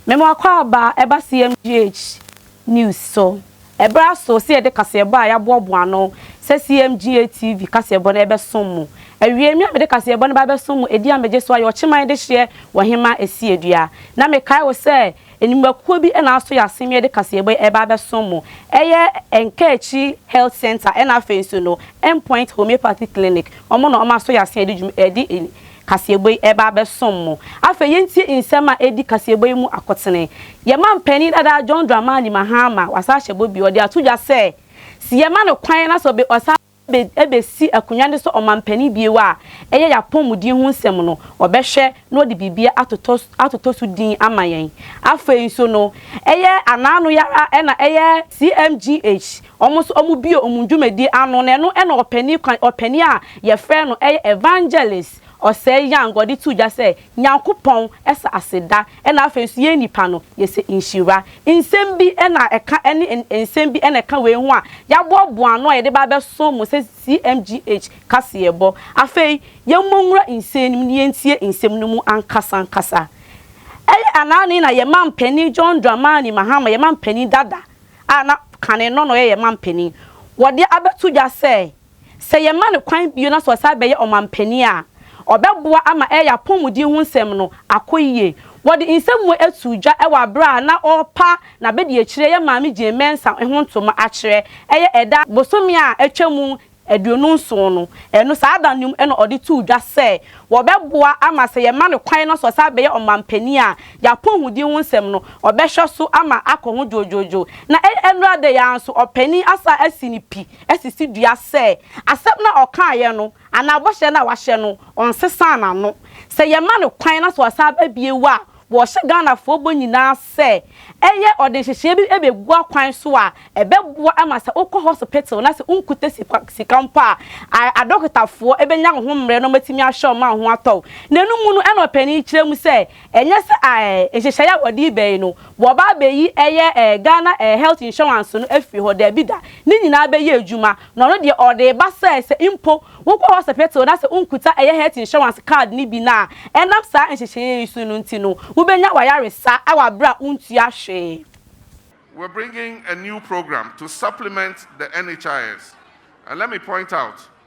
Mema akwaaba ɛba CMGH news so. Ɛberɛ aso sɛ yɛde kaseɛbɔ a yɛaboaboa ano sɛ CMGH TV kaseɛbɔ no ɛbɛsom mo. Awiei me a mede kaseɛbɔ no ba bɛsom mo ɛdi a megye so ayɛ ɔkyeman dehyeɛ wɔ Hemaa Asiedua. Na mekae wo sɛ Nnwumakuo bi na asɔ yɛn asene yɛde kaseɛbɔ yi reba abɛsom mo. Ɛyɛ Nkaakyi Health Centre ɛna afei nso no Endpoint Homeopathy Clinic. Wɔn na wɔasɔ yɛn asene de ɛde kaseɛbɔ yi reba abɛsom mo. Afei yɛntie nsɛm a ɛdi kaseɛbɔ yi mu akotene. Yɛn mampanin dada John Dramani Mahama wasan ahyɛ bɔ bio. Ɔde ato dwa sɛ, Se yɛma no kwan na sɛ ɔbe ɔsan. besi akonwa no sɛ ɔmampanin bio a, ɛyɛ yɛn apɔwmuden ho nsɛm no, ɔbɛhwɛ na ɔde biribiara atotɔ atotɔ so din ama yɛn. Afei nso no, ɛyɛ anaano yi ara na ɛyɛ CMGH, wɔn nso wɔbue wɔn dwumadie ano, na ɛno na ɔpanin kwan, ɔpanin a yɛfrɛ no ɛyɛ Evangelist Osei Yang, ɔde too dwa sɛ, Nyankopɔn sɛ aseda na afei nso yɛn nnipa no yɛsɛ nhyira. Nsɛm bi na ɛka ɛne nsɛm bi na ɛka wei ho a yɛaboaboa ano a yɛde ba abɛso mo sɛ CMGH kaseɛbɔ. Afei yɛmmɔ nwura nsɛm no mu na yɛntie nsɛm no mu ankasa ankasa. Ɛyɛ anane na yɛn mampanin John Dramani Mahama, yɛn mampanin dada a na kane no na ɔyɛ yɛn mampanin, wɔde abɛto dwa sɛ Sɛ yɛma no kwan bio na sɛ ɔsan bɛyɛ ɔmampanin a, ɔbɛboa ama ɛyɛ apɔwmuden ho nsɛm no akɔ yie. Wɔde nsɛmmoa too dwa wɔ bere a na ɔrepa n'abadiakyiri ɛyɛ Maame Jane Mensah ho ntoma akyerɛ ɛyɛ ɛda bosome a atwa mu aduonu nson no. Ɛno saa da no mu na ɔde too dwa sɛ wɔbɛboa ama sɛ yɛma no kwan na sɛ ɔsan bɛyɛ ɔmampanin a, yɛn apɔwmuden ho nsɛm no ɔbɛhwɛ so ama akɔ ho dwoodwoodwoo. Na ɛyɛ nnora da yi ara nso, ɔpanin asan asi ne pi. asisi dua sɛ asɛm no a ɔkaeɛ no anaa bɔhyɛ no a wahyɛ no, ɔnsesaa n'ano. Sɛ yɛma no kwan na sɛ ɔsan ba bio a, wɔhyɛ Ghanafoɔ bɔ nyinaa sɛ ɛyɛ ɔde nhyehyeɛ bi bɛgu akwan so a ɛbɛboa ma sɛ wokɔ hɔsopital na sɛ wonkuta sika mpo a, adɔkotafoɔ bɛnya wo ho mmerɛ na wɔatumi ahwɛ wo ma wo ho atɔ wo. N'anom no na ɔpanin yi kyerɛ mu sɛ, Ɛnyɛ sɛ eh, nhyehyɛe a wɔde yi bɛ yi no, wɔba abɛyi ɛyɛ eh, Ghana eh, health insurance no afiri hɔ. Daabi da. Ne nyinaa bɛyɛ adwuma. Na ɔno deɛ, ɔde reba sɛ, sɛ mpo wokɔ hospital na sɛ wonkuta ɛyɛ health insurance card no bi no a, ɛnam saa nhyehyɛeɛ yi so no nti no, wobɛnya w'ayaresa wɔ aberɛ a wontua hwee. We're bringing a new program to supplement the NHIS and let me point out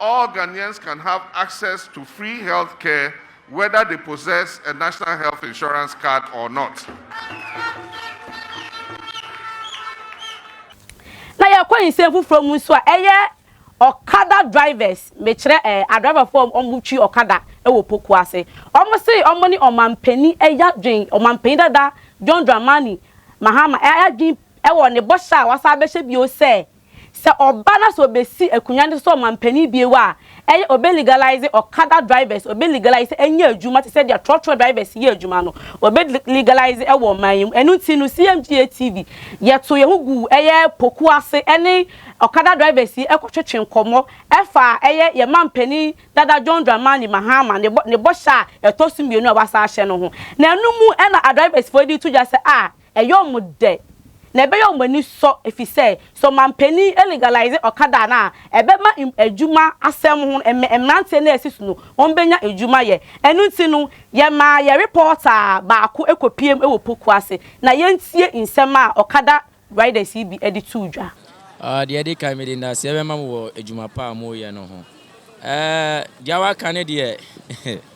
All Ghanaians can have access to free health care whether they possess a national health insurance card or not. Na yɛkɔ nsɛm foforɔ mu nso a, ɛyɛ ɔkada drivers, mekyerɛ eh, adriverfoɔ a wɔn twi ɔkada wɔ Poku ase. Wɔn se wɔn ne ɔmampanin ɛyɛ adwen, ɔmampanin dada John Dramani Mahama ɛyɛ adwen wɔ ne bɔhyɛ a wasan abɛhyɛ bio sɛ, Sɛ ɔba na sɛ ɔbɛsi akonwa no so sɛ ɔmanpanin bio a, ɛyɛ ɔbɛ legalize ɔkada drivers, ɔbɛ legalize sɛ ɛnyɛ adwuma te sɛ deɛ trɔtrɔ drivers yɛ adwuma no, ɔbɛ legalize ɛwɔ ɔman yi mu. Ɛno nti no CMGA TV yɛtoo yɛn ho guu ɛyɛ pokuo ase ɛne ɔkada drivers yi ɛkɔtwetwe nkɔmmɔ ɛfaa ɛyɛ yɛn manpanin dada John Dramani Mahama ne bɔ ne bɔhyɛ a ɛtɔ so mmienu a wasan ahyɛ no ho. Na ɛno mu ɛna adrivers foɔ de reto dwa sɛ a Ɛyɛ wɔn dɛ, na ɛbɛyɛ wɔn ani sɔ efisɛ sɛ ɔmanpanyin legalize ɔkada a na ɛbɛma adwuma asɛm ho mmerante no a asi so no wɔbenya adwuma yɛ. Ɛno nti no, yɛmaa yɛn repɔɔta baako kopiam wɔ Poku ase na yɛntie nsɛm a ɔkada riders yi bi de too dwa. Deɛ ɛdi kan, mede nnaseɛ bɛma mo wɔ adwuma pa a moreyɛ no ho. Deɛ waka no deɛ.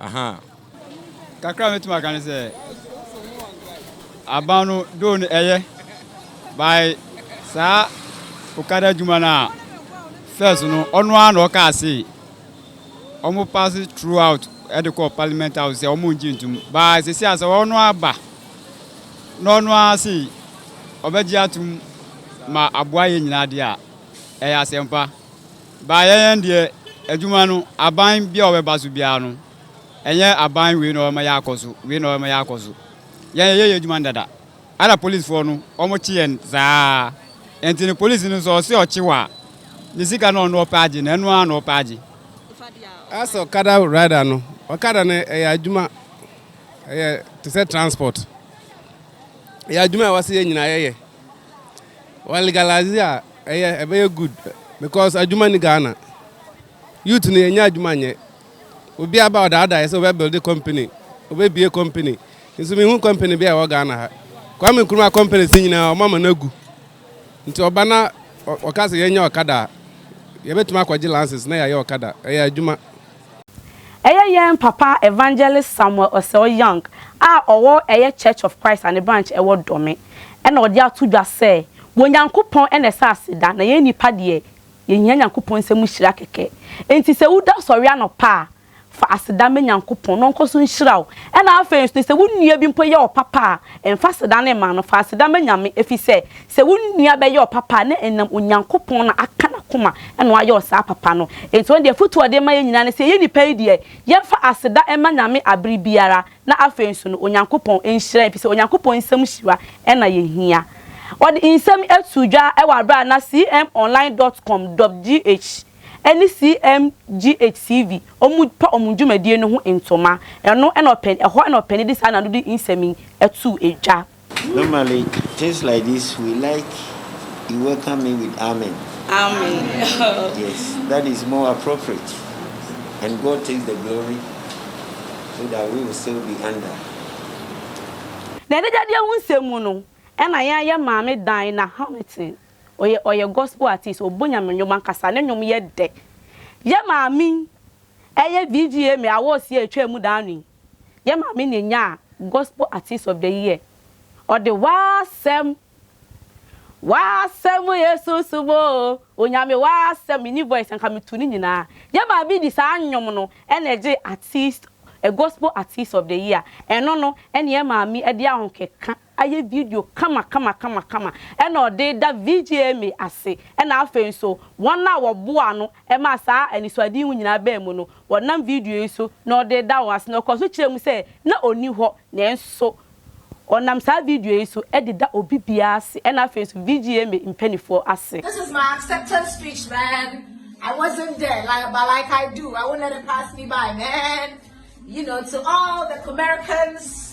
Ahaa. Kakra a mɛtumi aka ne sɛ, aban no doo no ɛyɛ by saa okada adwuma no a first no ɔno ara na ɔkaa se ɔmo pass throughout ɛde kɔɔ parliament house sɛ ɔmo ngye ntum by sisi a sɛ ɔno aba na ɔno ara se ɔbɛgye atum ma aboa yɛ nyinaa de a ɛyɛ asɛmpa. Baayɛ yɛn deɛ adwuma no aban bia ɔbɛba so biara no ɛnyɛ aban wei na ɔbɛma yɛ akɔ so wei na ɔbɛma yɛ akɔ so yɛn yɛyɛ yɛ adwuma no dada ɛna police foɔ no ɔmo kye yɛn saa ɛnti no police no sɛ ɔse ɔkye wo a ne sika na ɔno ɔpɛ agye na ɛno ara na ɔpɛ agye. As ɔkada rider no ɔkada no ɛyɛ adwuma ɛyɛ te sɛ transport ɛyɛ adwuma a ɛwɔ sɛ yɛn nyinaa yɛyɛ. Wɔ legalize a ɛyɛ ɛbɛyɛ good because adwuma ni Ghana. Youth no yɛnyɛ adwuma nyɛ. Obi aba ɔdaadaa yɛ sɛ ɔbɛ build company, ɔbɛ bie company. Nso mehu company bi a ɛwɔ Ghana ha. Kwame Nkrumah company si nyinaa ɔma ma no Nti ɔba na ɔka sɛ yɛnyɛ ɔkada a, yɛbɛtumi akɔgye lances na yɛayɛ ɔkada. Ɛyɛ adwuma. Ɛyɛ yɛn papa Evangelist Samuel Osel Young a ɔwɔ ɛyɛ Church of Christ a ne branch ɛwɔ Dome ɛna ɔde ato dwa sɛ, Wɔ Nyankopɔn ɛna ɛsɛ aseda na yɛn nnipa deɛ yɛhia Nyankopɔn nsɛm nhyira kɛkɛ. Enti sɛ wo da sɔre anɔpa a, fa aseda ma Nyankopɔn na ɔnkɔ so nhyira wo. Ɛna afei nso sɛ wo nua bi mpo yɛ wo papa a, mfa aseda no mma no, fa aseda ma Nyame efisɛ Sɛ wo nua bɛyɛ wo papa a, na ɛnam Onyankopɔn na aka n'akoma na wayɛ wo saa papa no. Enti ɔno deɛ afotu a ɔde ma yɛn nyinaa ne sɛ, yɛyɛ nnipa yi deɛ, yɛmfa aseda mma Nyame abere biara, na afei nso no, Onyankopɔn nhyira yɛn, efisɛ Onyankopɔn nsam hyira na yɛhia. Ɔde nsɛm yi too dwa wɔ abere a na CMOnline dot com dot GH ne CMGH TV pa wɔn dwumadie no ho ntoma. Ɛno na ɔpɛn, ɛhɔ na ɔpɛn de saa nanode nsɛm yi too dwa. Normally things like this we like you welcome me with amen. Amen. yes, that is more appropriate. And God takes the glory so that we will still be under. Na ɛdegyadeɛ ho nsɛm mu no, ɛna yɛn yɛ maame Dinah Hamilton. Ɔyɛ ɔyɛ gospel artist, ɔbɔ nyame nnwom ankasa, ne nnwom yɛ dɛ. Yɛn maame yi yɛ VGMA awards yi a ɛtwaa mu daano yi Yɛn maame na enyaa Gospel Artist of the Year. Ɔde W'asɛm, W'asɛm yɛ sunsum o, Onyame W'asɛm, menni voice a nka metu ne nyinaa. Yɛn maame de saa nnwom no na ɛgyee Artist, Gospel Artist of the Year. Ɛno no na yɛn maame de ahokeka. ayɛ video kama kama kama kama ɛna ɔde da VGMA ase ɛna afei nso wɔn a wɔboaa no ɛmaa saa anisoade yi nyinaa baa mu no wɔnam video yi so na ɔde reda wɔn ase na ɔkɔ so kyerɛ mu sɛ na ɔnni hɔ nanso ɔnam saa video yi so de da obi biara ase ɛna afei nso VGMA mpaninfoɔ ase. This is my acceptance speech man I wasn't there like but like I do I won't let it pass me by man you know to all the Comericans.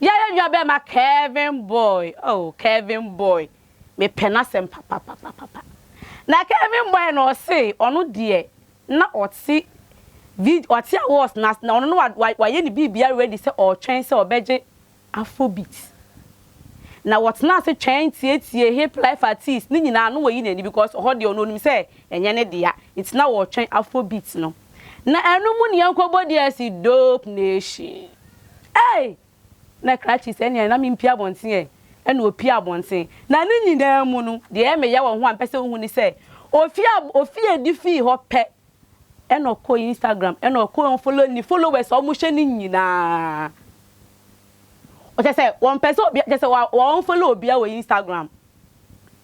Yɛyɛ nua bɛɛma Kevin boy oh Kevin boy me pɛ n'asɛm papapapapa na Kevin boy no ɔse ɔno deɛ na ɔte vid ɔte awards n'ase na ɔno no wa wa wayɛ ne biribia ready sɛ ɔɔtwɛn sɛ ɔbɛgye afrobeat na wɔtena ase twɛn tietie hip life artist ne nyinaa no wayi n'ani because ɔhɔ deɛ ɔno onim sɛ ɛnyɛ ne dea nti na ɔɔtwɛn afrobeat no. Na ɛno mu nea nkɔbɔ di asi dope nation ei na krakye sɛnea na mempie abɔnten ɛ ɛna opie abɔnten na ne nyinaa mu no deɛ ɛyɛ me ya wɔ ho a mepɛ sɛ wohu ne sɛ ofie a ofie a ɛdi fii hɔ pɛ ɛna ɔkɔ Instagram ɛna ɔkɔ unfollow ne followers a wɔhyɛ ne nyinaa ɔkyɛ sɛ wɔmpɛ sɛ obi kyɛ sɛ wa unfollow obia wɔ Instagram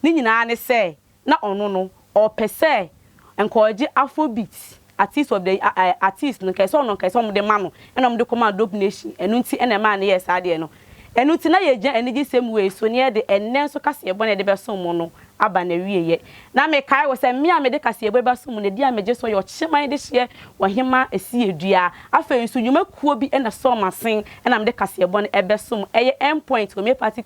ne nyinaa ne sɛ na ɔno no ɔpɛ sɛ nka ɔgye Afrobeat Artist of the Year eh, Artist no nka ɛsɛ ɔno nka ɛsɛ ɔmo de ma no ɛna ɔmo de kɔ maa Dope Nation ɛno nti ɛna ɛmaa no yɛɛ saa adeɛ no ɛno nti na yɛgyina anigyesɛm wei so na yɛde ɛnnɛ nso kaseɛbɔ na yɛde bɛsom mo no aba n'awieɛ na mekae wɔ sɛ me a mede kaseɛbɔ yi bɛsom mo no ɛdi a megye so yɛ ɔkyeman de hyeɛ ɔhemaa ɛsiɛ dua afei nso nnwuma kuo bi ɛna sɔɔ m'asen ɛna mede kaseɛbɔ no ɛbɛsom ɛyɛ End Point Homeopathic